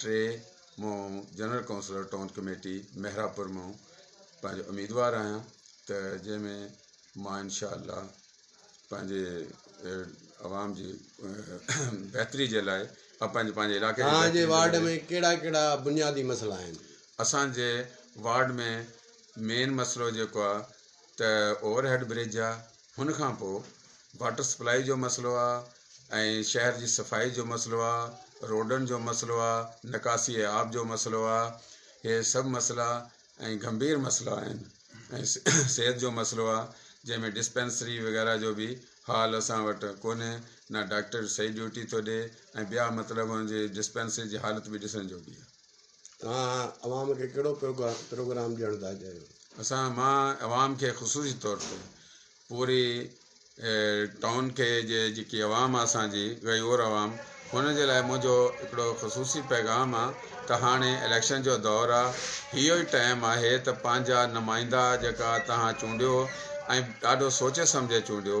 ٽي مون general councillor town committee Mehrabpur مون پنهنجو اميدوار آهيان ته جنهن ۾ مان انشاء الله پنهنجي عوام جي بهتري جي لاء ۽ پنهنجي پنهنجي علاقي جي بهتري جي وارڊ ۾ ڪهڙا ڪهڙا بنيادي مسئلا آهن اسانجي وارڊ ۾ مين مسئلو جيڪو آهي ته اوور هيڊ برج آهي هن کان پوء واٽر سپلائي جو مسئلو آ ۽ شهر جي صفائي جو مسئلو آ روڊن جو مسئلو آ نڪاسي آب جو مسئلو آ هي سڀ مسئلا ۽ گنڀير مسئلا آهن ۽ صحت جو مسئلو آ جنهن ۾ ڊسپينسري وغيره جو به حال اسان وٽ ڪونهي نه ڊاڪٽر صحيح ڊيوٽي ٿو ڏي ۽ ٻيا مطلب هن جي ڊسپينسري جي حالت به ڏسڻ جوڳي آ توهان عوام کي ڪهڙو پروگرام ڏيڻ ٿا چاهيو؟ اسان مان عوام کي خصوصي طور تي پوري ٽائون کي جي جيڪي عوام آ اسان جي غيور عوام هن جي لاء منهنجو هڪڙو خصوصي پيغام آ ته هاڻي اليڪشن جو دور آ اهو ئي ٽائم آهي ته پنهنجا نمائندا جيڪا توهان چونڊيو ۽ ڏاڍو سوچي سمجهي چونڊيو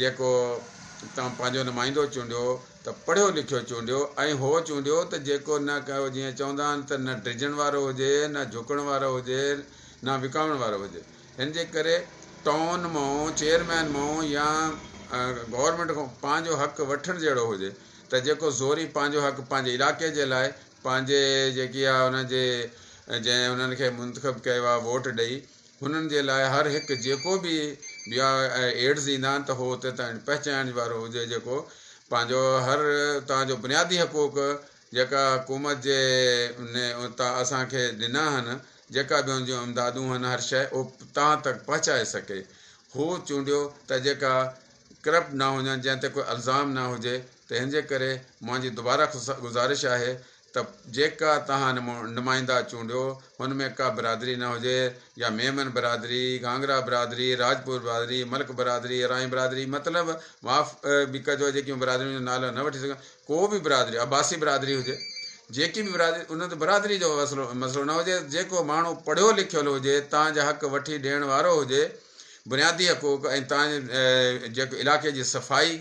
جيڪو توهان پنهنجو نمائندو چونڊيو ته پڙهيو لکيو چونڊيو ۽ هو چونڊيو ته جيڪو نه ڪهو جيئن چوندا آهن ته نه ڊڄڻ وارو هجي نه جهڪڻ وارو هجي نه وڪامڻ وارو هجي هن جي ڪري ٽائون مئو چيئرمين مئو يا گورنمينٽ کان پنهنجو حق وٺڻ جهڙو هجي ته جيڪو زوري پنهنجو حق پنهنجي علائقي جي لاء پنهنجي جيڪي آهي ان جي جنهن انهن کي منتخب ڪيو آهي ووٽ ڏئي هنن جي لاء هر هڪ جيڪو به بيا ۽ ايڊز ايندا آهن ته هو اتي تائين پهچائڻ وارو هجي جيڪو پنهنجو هر اتان جو بنيادي حقوق جيڪا حڪومت جي ني اتان اسان کي ڏنا هن جيڪا به هن جون امدادون هن هر شئي اهو تان تڪ پهچائي سگهي هو چونڊيو ته جيڪا ڪرپٽ نه هجن جنهن تي ڪو الزام نه هجي ته هن جي ڪري منهنجي دوباره گذارش آهي ته جيڪا توهان نمائندا چونڊيو ان ۾ ڪا برادري نه هجي يا ميمن برادري، گانگرا برادري، راجپوت برادري، ملڪ برادري، اراين برادري مطلب معاف به ڪجو جيڪيون برادريون جو نالو نه وٺي سگهان ڪو به برادري عباسي برادري هجي جيڪي به برادري ان تي برادري جو مسئلو نه هجي جيڪو ماڻهو پڙهيو لکيل هجي توهان جا حق وٺي ڏيڻ وارو هجي بنيادي حقوق ۽ توهان جي جيڪو علائقي جي صفائي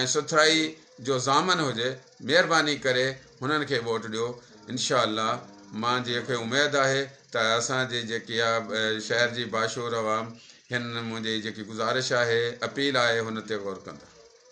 ۽ سٿرائي جو ضامن هجي مهرباني ڪري هنن کي ووٽ ڏيو انشاء الله مان جي کي اميد آهي ته اسان جي جيڪي آ شهر جي باشعور عوام هن منهنجي جيڪي گذارش آهي اپيل آهي هن تي غور ڪندا.